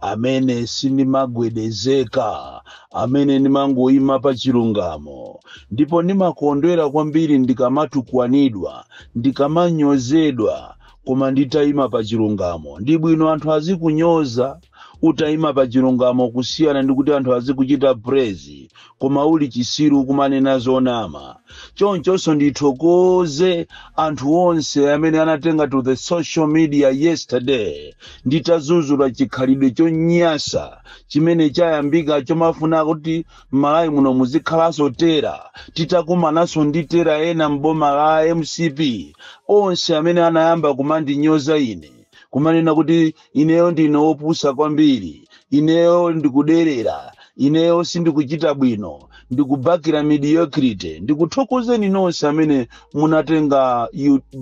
amene sindimagwedezeka amene ndimangoyima pa chilungamo ndipo ndimakondwera kwambiri ndikamatukwanidwa ndikamanyozedwa koma nditayima pa chilungamo ndi bwino anthu azikunyoza utayima pa chilungamo kusiyana ndi kuti anthu azikuchita praise koma uli chisiru kumanena zonama chonchonso ndithokoze anthu onse amene anatenga to the social media yesterday nditazuzula chikhalidwe chonyasa chimene chayambika chomafuna kuti m'malawi muno muzikhalanso tera titakumananso ndi tera ena m'boma la mcp onse amene anayamba kumandinyoza ine kumanena kuti ineyo ndine wopusa kwambiri ineyo ndikuderera ineyo sindikuchita bwino ndikubakira mediocrity ndikuthokozeni nonse amene munatenga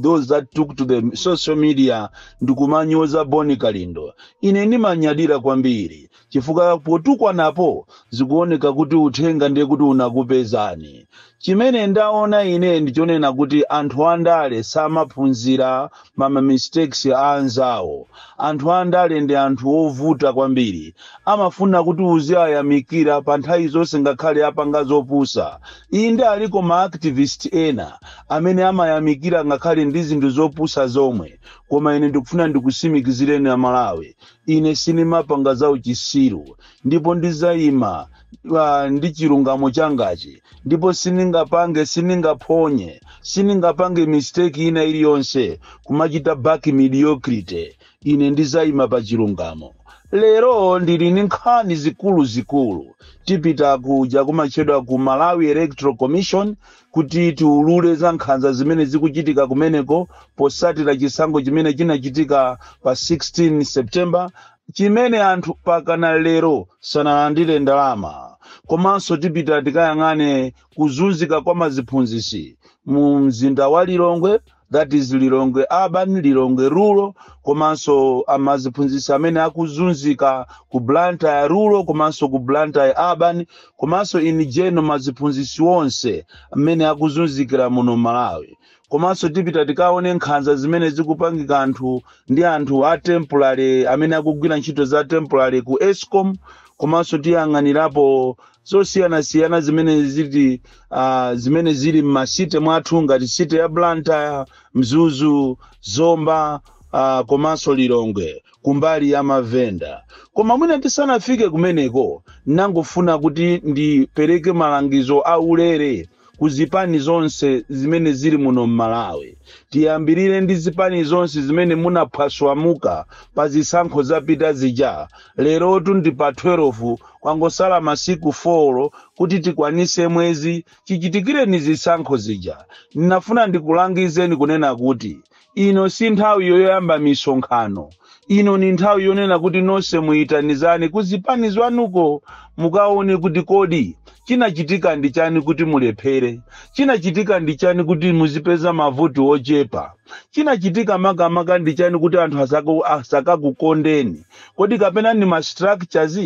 those that took to the social media ndikumanyoza boni kalindo ine ndimanyadira kwambiri chifukwa potukwanapo zikuoneka kuti uthenga ndiye kuti unakupezani. Chimene ndaona ine ndi chonena kuti anthu andale samaphunzira ma ma mistakes a anzawo. Anthu andale ndi anthu ovuta kwambiri. Amafuna kuti uziwayamikira pa nthawi zonse ngakhale apanga zopusa. Inde aliko ma activist ena amene amayamikira ngakhale ndi zinthu zopusa zomwe. Koma ine ndikufuna ndikusimikizireni a Malawi, ine sinimapanga za uchisiru ndipo ndizayima uh, ndi chilungamo changachi ndipo siningapange siningaphonye siningapange mistake ina iliyonse kumachita back mediocrity ine ndizayima pa chilungamo lero ndili ndi nkhani zikuluzikulu tipita kuja kumatchedwa ku malawi electoral commission kuti tiulule za nkhanza zimene zikuchitika kumeneko posatira chisankho chimene chinachitika pa 16 september chimene anthu pakana lero sanalandire ndalama komanso tipita tikayang'ane kuzunzika kwa maziphunzisi mu mzinda wa lilongwe that is lilongwe urban lilongwe rural komanso amaziphunzisi amene akuzunzika ku blantyre rural komanso ku blantyre urban komanso in general maziphunzisi onse amene akuzunzikira muno malawi komanso tipita tikaone nkhanza zimene zikupangika anthu ndi anthu a temporary amene akugwira ntchito za temporary ku escom komanso tiyang'anirapo zosiyanasiyana zimene zili uh, zimene zili m'macity mwathu ngati city ya blantyre mzuzu zomba uh, komanso lilongwe kumbali ya mavenda koma mwina tisanafike kumeneko nangofuna kuti ndipereke malangizo a ulere ku zipani zonse zimene zili muno m'malawi tiyambirire ndi zipani zonse zimene munaphwaswamuka pa zisankho zapita zija lerotu ndi pa 12 kwangosala masiku 4 kuti tikwanise mwezi chichitikireni zisankho zija ndinafuna ndikulangizeni kunena kuti Ino si nthawi yoyamba misonkhano. Ino ndi nthawi yonena kuti nonse muitanizane ku zipani zwanuko mukaone kuti kodi chinachitika ndi chani kuti mulephere, chinachitika ndi chani kuti muzipeza mavoti ochepa, chinachitika makamaka ndi chani kuti anthu asaka- asakakukondeni, kodi kapena ndi ma structures?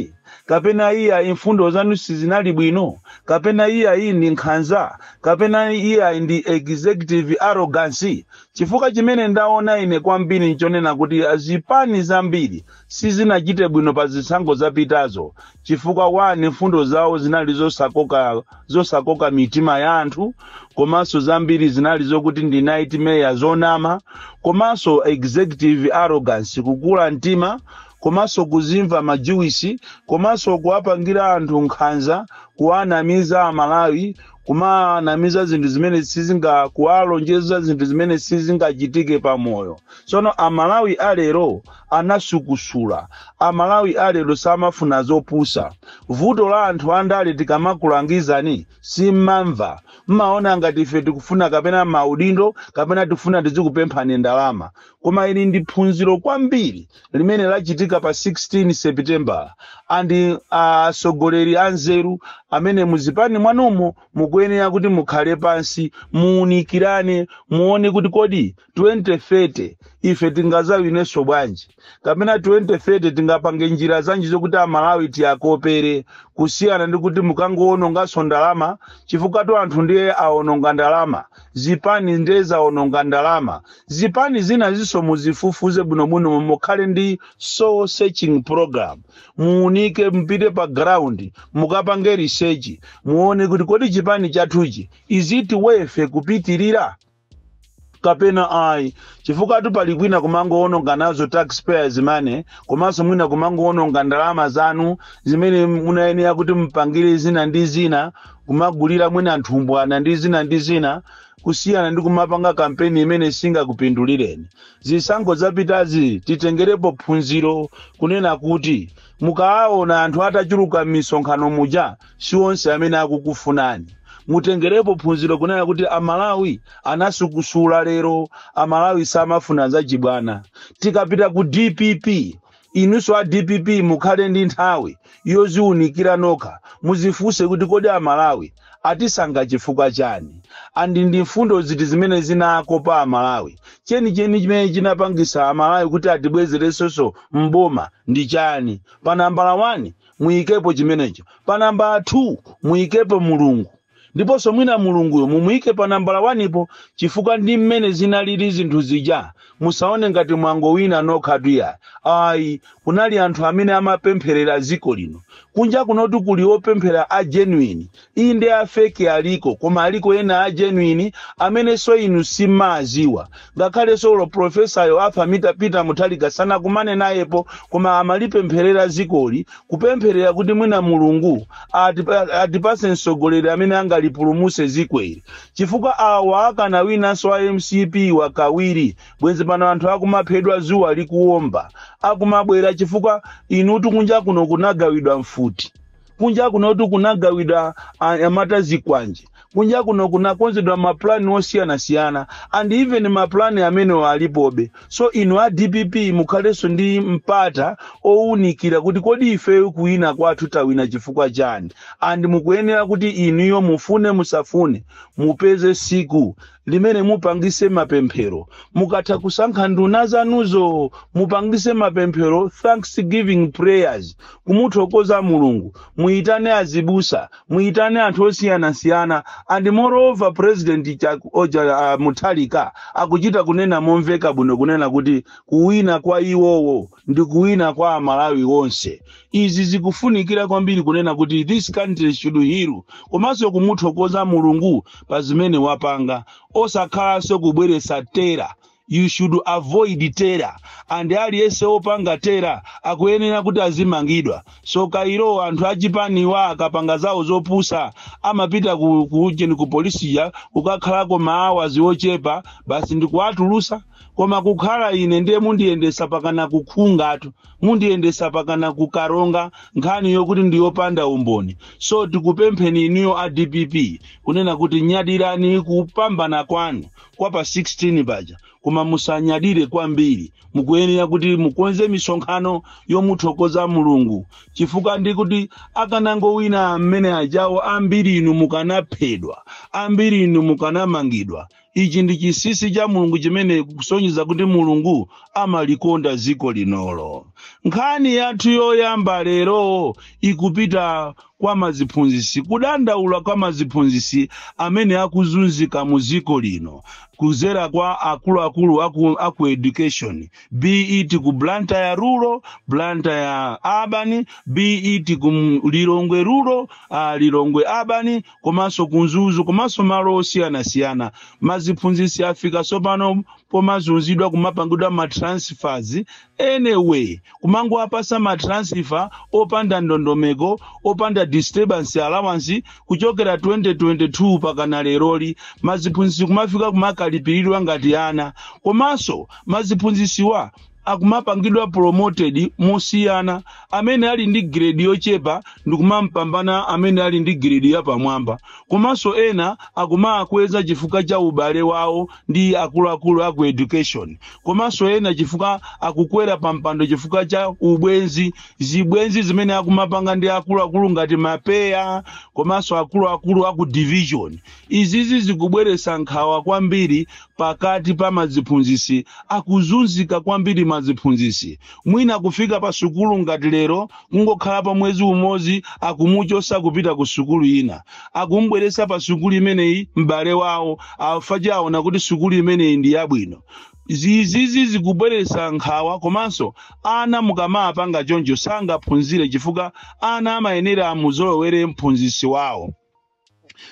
kapena iyayi mfundo zanu sizinali bwino, kapena iyayi ndi nkhanza, kapena iyayi ndi executive arrogance. Chifukwa chimene ndaona ine kwambiri n'chonena kuti zipani zambiri sizinachite bwino pa zisankho zapitazo chifukwa one mfundo zawo zinali zosakoka mitima ya anthu komanso zambiri zinali zokuti ndi nightmare zonama komanso executive arrogance kukula mtima komanso kuzimva ma juice komanso kuwapangira anthu nkhanza kuwanamiza amalawi kumawanamiza zinthu zimene sizinga kuwalonjeza zinthu zimene sizingachitike pa moyo tsono amalawi alero anasukusula amalawi alero samafuna zopusa vuto la anthu andale tikamakulangizani simmamva mmaona ngati ife tikufuna kapena maudindo kapena tikufuna tizikupemphani ndalama koma ili ndi phunziro kwambiri limene lachitika pa 16 sepitembala andi atsogoleri anzeru amene muzipani mwanumo mukuyenera kuti mukhale pansi muunikirane muone kuti kodi 2030 ife tingazawinenso bwanji kapena 2030 tingapange njira zanji zokuti amalawi tiwakopere kusiyana ndi kuti mukangoononganso ndalama chifukwatu anthu ndiye aononga ndalama zipani ndiye zaononga ndalama zipani zinazinso muzifufuze bwinobwino mukhale ndi soul searching program muunike mpite pa ground mukapange research muone kuti kodi chipani chathuchi is it worth kupitirira kapena ayi chifukwatu pali kwina kumangoononga nazo taxpayers money komanso mwina kumangoononga ndalama zanu zimene munayenera kuti mupangire zina ndi zina kumagulira mwina nthumbwana ndi zina ndi zina kusiyana ndi kumapanga kampeni imene singakupindulireni. Zisankho zapitazi titengerepo phunziro kunena kuti mukawaona anthu atachuluka m'misonkhano muja si onse amene akukufunani. Mutengerepo phunziro kunena kuti Amalawi anasukusula lero, Amalawi samafuna zachibwana. Tikapita ku dpp Inunso a dpp mukhale ndi nthawi yoziunikira nokha muzifunse kuti kodi a Malawi atisankha chifukwa chani and ndi mfundo ziti zimene zinakopa a Malawi? Chenicheni chimene chinapangisa a Malawi kuti atibwezeresoso m'boma ndi chani? Pa nambala 1 muyikepo chimenecho. Pa nambala 2 muyikepo Mulungu. Ndiponso mwina Mulunguyo mumuike pa nambala wanipo chifukwa ndi mmene zinalili zinthu zija. Musaone ngati mwangowina nokhatu iyayi. Ayi, kunali anthu amene amapempherera dziko lino. Kunja kunotu kuli opemphera a genuine. Inde a fake aliko koma aliko ena a genuine amenenso inu simmawadziwa. Ngakhalenso olo pulofesayo Arthur Peter Mutharika sanakumane nayepo koma amalipempherera dzikoli kupempherera kuti mwina mulungu atipa- atipase mtsogoleri amene angalipulumutse dziko ili chifukwa awa akanawinanso a mcp kwa kawiri bwenzi pano anthu akumaphedwa zuwa likuwomba akumabwera chifukwa inutu kunja kuno kunagawidwa mfuti kunja kunotu kunagawidwa anyamata zikwanje Kunja kuno kunakonzedwa ma plan osiyanasiyana and even ma plan amenewo alipobe so inu a dpp mukhalenso ndi mpata owunikira kuti kodi ifeyo kuwina kwathu tawina chifukwa chani and mukuyenera kuti inuyo mufune musafune mupeze siku limene mupangise mapemphero mukatha kusankha nduna zanuzo mupangise mapemphero thanksgiving prayers kumuthokoza mulungu muyitane azibusa muyitane anthu osiyanasiyana and moreover president Chak- oja uh, Mutharika akuchita kunena momveka bwino kunena kuti kuwina kwa iwowo ndi kuwina kwa amalawi onse izi zikufunikira kwambiri kunena kuti this country should heal komanso kumuthokoza mulungu pa zimene wapanga osakhalanso kubweretsa terror you should avoid terror and aliyense opanga terror akuyenera kuti azimangidwa Sosten kairo anthu achipaniwa akapanga zawo zopusa amapita ku, ku, ku polisi ija kukakhalako ma hours ochepa basi ndikuwatulusa koma kukhala ine ndiye mundiyendesa pakana ku Nkhunga-tu mundiyendesa pakana ku Karonga nkhani yokuti ndiyopanda umboni so tikupempheni inuyo a dpp kunena kuti nyadirani kupambana kwanu kwa pa 16 paja koma musanyadire kwambiri mukuyenera kuti mukonze misonkhano yomuthokoza mulungu chifukwa ndi kuti akanangowina mmene ajawo ambiri inu mukanaphedwa ambiri inu mukanamangidwa ichi ndi chinsinsi cha mulungu chimene kusonyeza kuti mulungu amalikonda dziko linoli nkhani yathu yoyamba lero ikupita kwa maziphunzisi kudandaula kwa maziphunzisi amene akuzunzika mu dziko lino kuzera kwa akuluakulu aku, aku education be it ku blantyre rural blantyre urban be it ku M- lilongwe rural uh, lilongwe urban komanso ku mzuzu komanso malo osiyanasiyana maziphunzitsi afika tsopano pomazunzidwa kumapangidwa ma transfers anyway kumangowapasa ma transfer opanda ndondomeko opanda disturbance allowance kuchokera 2022 pakana leroli maziphunzitsi kumafika kumakalipiridwa ngati ana komanso maziphunzitsiwa akumapangidwa promoted musiyana amene ali ndi grade yochepa ndikumampambana amene ali ndi grade yapamwamba komanso ena akumakweza chifukwa cha ubale wawo ndi akuluakulu aku education komanso ena chifukwa akukwera pampando chifukwa cha ubwenzi zibwenzi zimene akumapanga ndi akuluakulu ngati mapeya komanso akuluakulu aku division izizi zikubweretsa nkhawa kwambiri pakati pa maziphunzisi akuzunzika kwambiri maziphunzisi mwina kufika pa sukulu ngati lero kungokhalapo mwezi umozi akumuchosa kupita ku sukulu ina akumubweresa pa sukulu imeneyi m'bale wawo after aona kuti sukulu imeneyi ndi yabwino izizi zikubweresa nkhawa komanso ana mukamapanga choncho sangaphunzire chifukwa ana amayenera amuzolowere mphunzisi wawo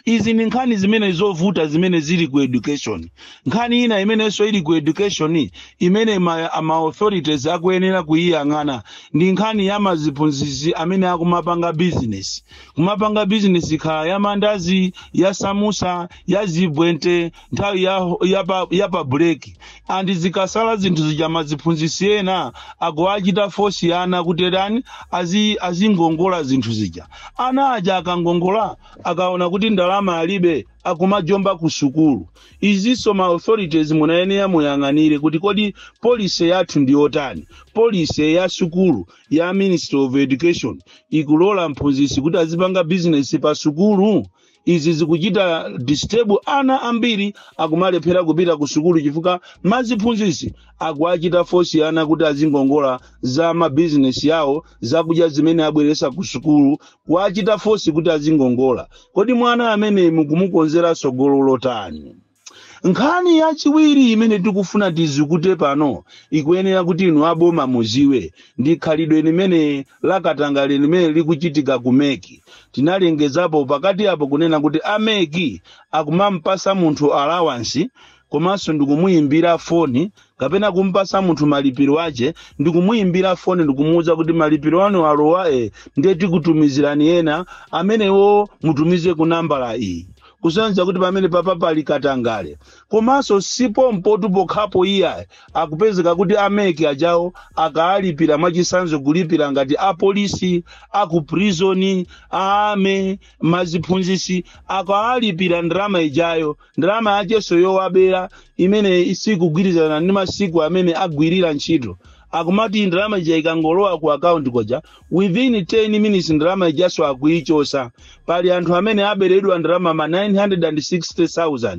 izi ndi nkhani zimene zovuta zimene zili ku education nkhani ina imenenso ili ku education imene ma, ma authorities akuyenera kuyiyang'ana ndi nkhani ya maziphunzitsi amene akumapanga business kumapanga business ikhala ya mandazi ya samusa ya zibwente nthawi ya, ya, pa, ya pa break and zikasala zinthu zija maziphunzisi ena akuwachita force ana kuti tani azi- azingongola zinthu zija ana aja akangongola akaona kuti ndalama alibe akumajomba ku sukulu izinso ma authorities munayenera muyang'anire kuti kodi policy yathu ndi yotani policy ya sukulu ya ministry of education ikulola mphunzisi kuti azipanga bizinesi pa sukulu izi zikuchita disturb ana ambiri akumalephera kupita ku sukulu chifukwa maziphunzitsi akuwachita force ana kuti azingongola za mabizinesi awo zakudya zimene abweresa ku sukulu kuwachita force kuti azingongola kodi mwana ameneyi mukumukonzera tsogolo lotani nkhani yachiwiri imene tikufuna tidzikute pano ikuyenera kuti inu aboma muziwe ndi khalidwe limene lakatangale limene likuchitika ku meki tinalengezapo pakati apo kunena kuti a meki akumampasa munthu alawansi komanso ndikumuyimbira foni kapena kumpasa munthu malipiro ache ndi kumuimbira foni ndi kumuuza kuti malipiro anu alowa e ndiye tikutumizirani ena amenewo mutumize ku nambala iyi kusonyeza kuti pamene papa pali katangale komanso sipompo tu pokhapo iyayi akupezeka kuti ameki ajawo akaalipira mwachisanzo kulipira ngati apolisi akuprizoni a ame maziphunzisi akaalipira ndalama ijayo ndalama yacheso yowabera imene isikugwirizana ndi masiku amene agwirira ntchito akumati ndalama ija ikangolowa ku akaunti koja within 10 minutes ndalama ijaso akuichosa pali anthu amene aberedwa ndalama ma 960000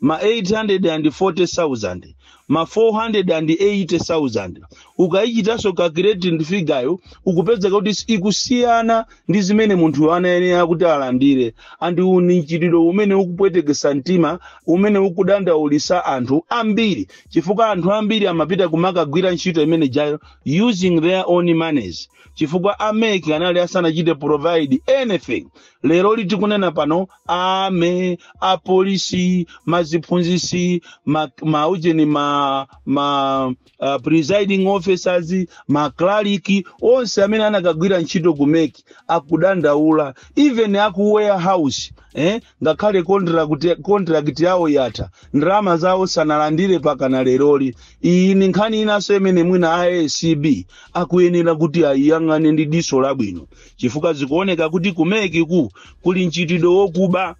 ma 840000 ma 480000 ukayichitaso calculate figure yo ukupezeka kuti ikusiyana ndi zimene munthuyo anayenera kuti alandire and ndi mchitidwe umene ukupwetekesa mtima umene ukudandaulisa anthu ambiri chifukwa anthu ambiri amapita kumakagwira ntchito imene jayo using their own monies chifukwa ameki anali asanachite provide anything lero litikunena pano a ame apolisi maziphunzisi ma, maujeni ma, ma uh, presiding officers maklaliki onse amene anakagwira ntchito ku mek akudandaula even aku warehouse eh? ngakhale contract, contract yawo yatha ndalama zawo sanalandire pakana leroli iyi ni nkhani inanso imene mwina a acb akuyenera kuti ayiyang'ane ndi diso labwino chifukwa zikuoneka kuti kumeki ku kuli mchitidwe wokuba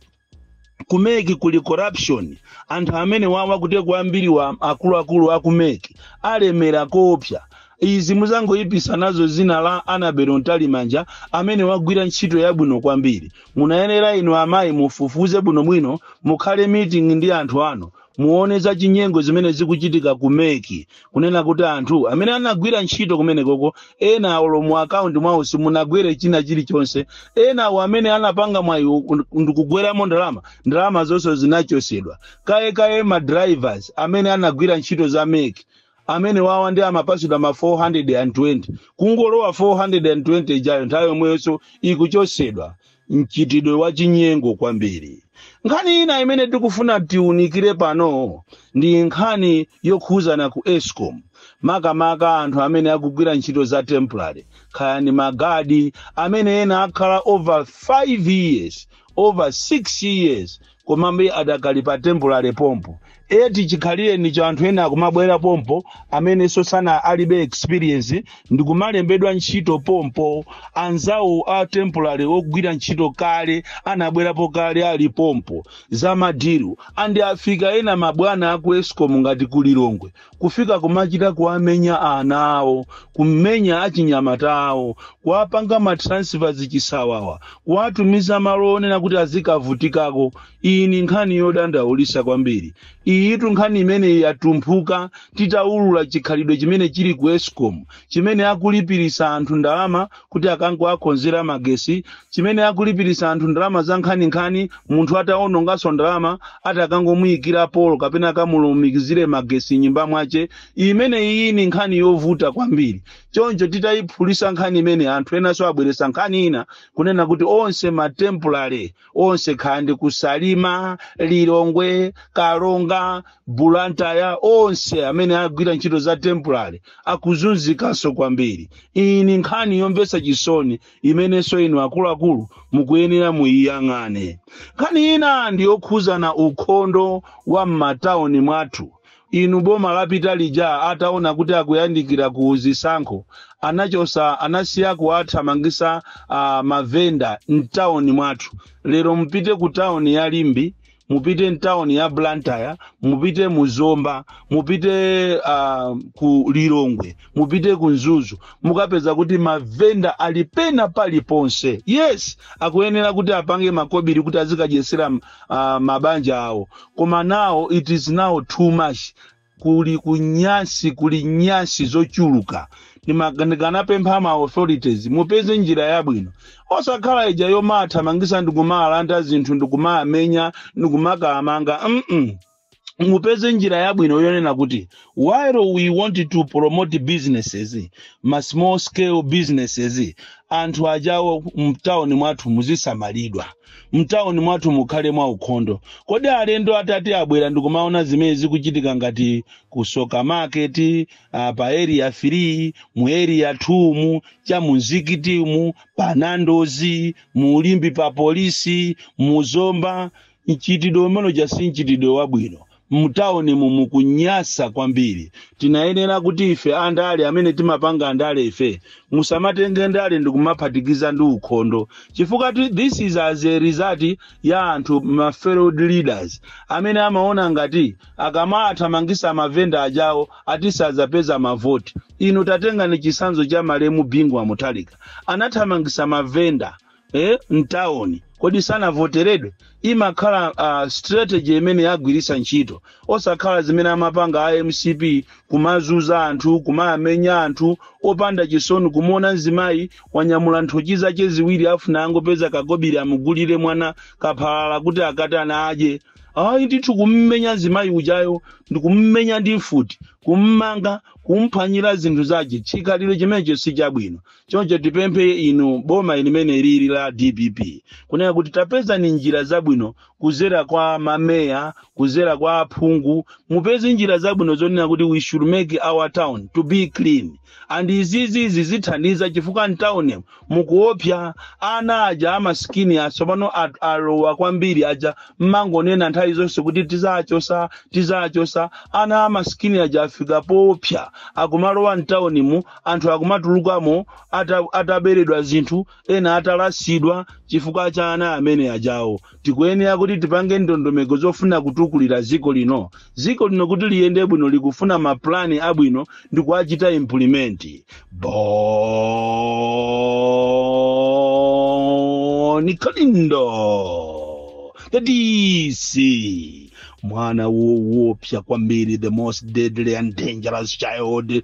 kumeki kuli corruption anthu amene wawa kuteko ambiri wa akuluakulu a kumeki alemera koopsya izi muzangoyipisa nazo zina la anabelo mtalimanja amene wagwira ntchito yabwino kwambiri munayenera inu amayi mufufuze bwinobwino mukhale meeting ndi anthu anu muone za chinyengo zimene zikuchitika ku meki kunena kuti anthu amene anagwira ntchito kumenekoko ena awo mu akaunti mwawo simunagwere china chilichonse ena awo amene anapanga mwayi u- ndikugweramo ndalama ndalama zonse zinachosedwa kaye kaye ma drivers amene anagwira ntchito za meki amene wawa ndi amapasidwa ma 420 kungolowa 420 ijayo nthawi yomweyonso ikuchosedwa mchitidwe wa chinyengo kwambiri nkhani ina imene tikufuna tiunikire pano ndi nkhani yokhuzana ku escom makamaka anthu amene akugwira ntchito za temporary kaya ndi magadi amene ena akhala over 5 years over 6 years komabe adakali pa temporary pompo eti chikhalireni cha anthu ena akumabwera pompo amenenso alibe experience ndikumalembedwa ntchito pompo anzawo a temporary ogwira ntchito kale anabwerapo kale ali pompo za madiru andi afika ena mabwana aku escom ngati ku lilongwe kufika kumachita kuwamenya ana awo kumenya achinyamata awo kuwapanga matransfers chisawawa kuwatumiza malo onena kuti azikavutikako iyi ni nkhani yodandaulisa kwambiri iyitu nkhani imeneyi yatumphuka titaulula chikhalidwe chimene chili ku escom chimene akulipirisa anthu ndalama kuti akangowakonzera magesi chimene akulipiritsa anthu ndalama za nkhaninkhani munthu atawononganso ndalama ati akangomuyikira polo kapena akamulumikizire magesi mnyumba mwache imene iyi ni nkhani yovuta kwambiri choncho titayiphulisa nkhani imene anthu enanso abweresa nkhani ina kunena kuti onse matempulale onse kaya ndi ku salima lilongwe karonga bulantaya onse amene agwira ntchito za temporary akuzunzikanso kwambiri iyi ni nkhani yomvetsa chisoni imenenso inu akuluakulu mukuyenera muiyang'ane nkhani ina ndi yokhuzana ukhondo wa m'matauni mwathu Inu boma lapita lija ataona kuti akuyandikira ku zisankho anachosa anasiya kuwathamangisa ma vendor mtown mwathu lero mupite ku town ya Limbe mupite mtown ya Blantyre mupite mu Zomba mupite uh, ku Lilongwe mupite ku Mzuzu mukapeza kuti ma vendor ali pena paliponse yes akuyenera kuti apange makobiri kuti azikadyesera uh, mabanja awo koma now it is now too much kuli kunyasi kuli nyasi zochuluka Ndimaga- ndikanapempha ma authorities mupeze njira yabwino osakhala ija yomawathamangisa ndikumalanda zinthu ndikumawamenya ndikumakawamanga mm mupeze njira yabwino yonena kuti while we want to promote businesses ma small scale businesses anthu ajawo mtawuni mwathu muzisamalidwa mtawuni mwathu mukhale mwa ukhondo kodi alendo atati abwera ndikumaona zimene zikuchitika ngati ku Tsoka market uh, pa area 3 mu area 2 mu cha mumzikitimu pa Nando's mu Limbe pa polisi mu zomba Mchitidwe umene uja si mchitidwe wabwino. Mtaunimu mukunyasa kwambiri. Tinayenera kuti ife andale amene timapanga ndale ife musamatenge ndale ndikumaphatikiza ndi ukhondo chifukwa ti- this is as a result ya anthu ma failed leaders amene amaona ngati akamathamangisa mavenda ajawo ati sadzapeza mavoti. Inu tatengani chitsanzo cha malemu Bingu wa Mutharika anathamangisa mavenda mavenda mtawuni kodi sanavoteredwe imakhala uh, strategy imene yagwiritsa ntchito osakhala zimene amapanga a mcp kumazuza anthu kumawamenya anthu opanda chisoni kumuona mzimayi wanyamula nthochi zake ziwiri afuna angopeza kakobiri amugulire mwana kaphalala kuti akaitana adye ayi ndithu kummenya mzimayi ujayo ndikummenya ndi mfuti kummanga kumphwanyira zinthu zake chikhalidwe chimenecho si chabwino choncho tipemphe inu boma limene lili la dpp kunena kuti tapezani njira zabwino kuzera kwa mameya kuzera kwa aphungu mupeze njira zabwino zonena kuti we should make our town to be clean and izizi zitithandiza chifukwa mtawuni mukuopsa ana aja amasikini a tsopano at- alowa kwambiri aja mmangonena nthawi zonse kuti tizachosa tizachosa ana amasikini aja afika poopsa akumalowa mtawunimu anthu akumatulukamo ata, ataberedwa zinthu ena atalasidwa chifukwa cha ana amene ajawo tikuyenera kuti tipange ndondomeko zofuna kutukulira dziko lino dziko lino kuti liyende bwino likufuna mapulani abwino ndi kuwachita implimenti Bon Kalindo the dc mwana woopsa kwambiri the most deadly and dangerous child